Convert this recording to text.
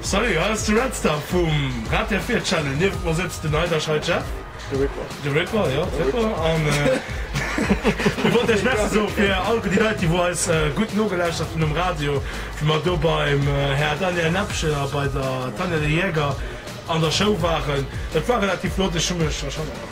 Salut, hei ass de Redstar vum Radiof Vier Channel. Niewent mer sëtzt den Aydash High Jeff, De Ripper. de Ripper, jo, de Ripper, an mir wollten Iech Merci soe fir all déi Leit, déi wou eis gutt nogelauschtert hunn um Radio, wéi mer do beim Här Daniel Näppchen a bei der Tanja Lely Jäger an der Show waren. Dat war relativ flott, ech hu mech.